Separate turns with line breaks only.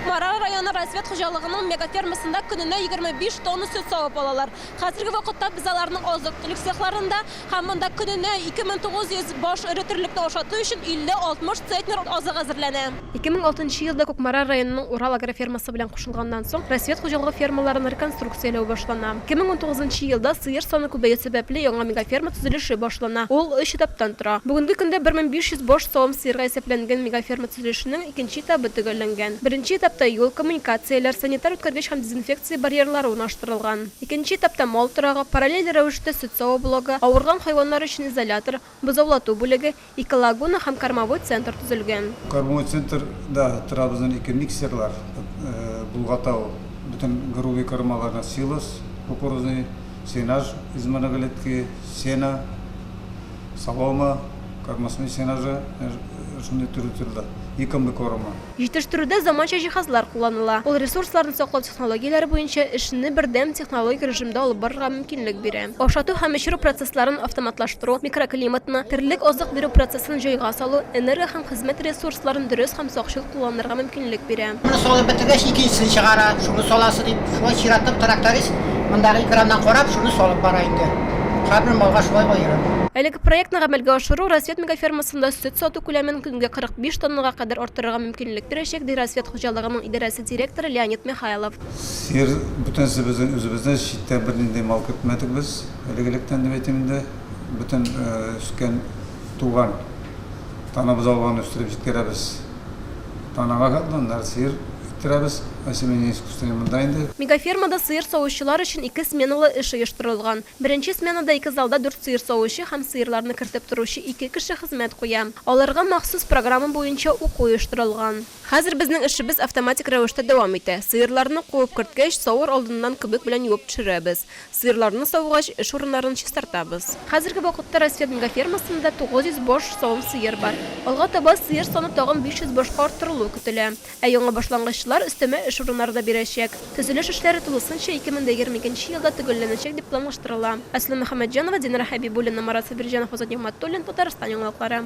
Кукмара районы развед хуҗалыгының мегафермасында көненә 25 тонна сөт савып алалар. Хәзерге вакытта без аларның азык-төлек цехларында һәм монда көненә 2900 баш эре терлекне ашату өчен 50-60 центнер азык әзерләнә. 2006 нчы елда Кукмара районының Урал агрофермасы белән кушылганнан соң, развед хуҗалыгы фермаларын реконструкцияләү башлана. 2019 нчы елда сыер саны күбәю сәбәпле яңа мегаферма төзелеше башлана, ул өч этаптан тора. Бүгенге көндә 1500 баш савым сыерга исәпләнгән мегаферма төзелә. Төзелешенең икенче этабы төгәлләнгән. Беренче этапта юл, коммуникацияләр, санитар үткәргеч һәм дезинфекция барьерлары урнаштырылган. Икенче этапта мал торагы, параллель рәвештә сөт саву блогы, авырган хайваннар өчен изолятор, бозаулату бүлеге, ике лагуна һәм кормовой центр төзелгән. Кормовой центрда
торабыздан ике миксерлар, Болгатау бөтен грубый кормаларына силос кукурузный, Сенаж измәнәгәлетке сена, солома, кормосной сенажы, шундый төрле төрле, икомлы корма.
Җитештерүдә заманча җиһазлар кулланыла. Ул ресурсларны саклау технологияләре буенча эшне бердәм технологик режимда алып барырга мөмкинлек бирә. Ашату һәм эчерү процессларын автоматлаштыру, микроклиматны, терлек азык бирү процессын җайга салу, энерго һәм хезмәт ресурсларын дөрес һәм сакчыл кулланырга мөмкинлек бирә. мөмкинлек бирә. Моны салып бетергәч,
икенчесен чыгара, шуны саласы дип, шулай чиратлап тракторист мондагы экраннан карап, шуны салып бара инде. Һәрбер малга шулай аерып. Әлеге проектны
гамәлгә ашыру Рассвет мегафермасында сөт сату күләмен көнгә 45 тоннага кадәр арттырырга мөмкинлек бирәчәк, ди Рассвет хуҗалыгының идарәсе директоры Леонид Михайлов. Сер,
бөтенесе безнең үзебезнең, читтән бернинди мал көтмәдек без, элек-электән дип әйтим инде. Бөтен үскән, туган, танабыз алганны үстереп җиткерәбез.
Мегафермада сыер савучылар өчен ике сменалы эш оештырылган. Беренче сменада ике залда дүрт сыер савучы һәм сыерларны кертеп торучы ике кеше хезмәт куя. Аларга махсус программа буенча уку оештырылган. Хәзер безнең эшебез автоматик рәвештә дәвам итә. Сыерларны куып керткәч, савыр алдыннан күбек белән юып төшерәбез. Сыерларны савгач, эш урыннарын чистартабыз. Хәзерге вакытта Райсфермга фермасында 900 баш савым сыер бар. Алга таба сыер саны тагын 500 башка арттырылуы көтелә. Ә яңа башлангычлар өстәмә эш урыннары да бирәчәк. Төзелеш эшләре тулысынча 2022 елда төгәлләнәчәк дип планлаштырыла. Асия Мөхәммәтҗанова, Динара Хәбибуллина, Марат Сабирҗанов, Азат Нигъмәтуллин, Татарстан яңалыклары.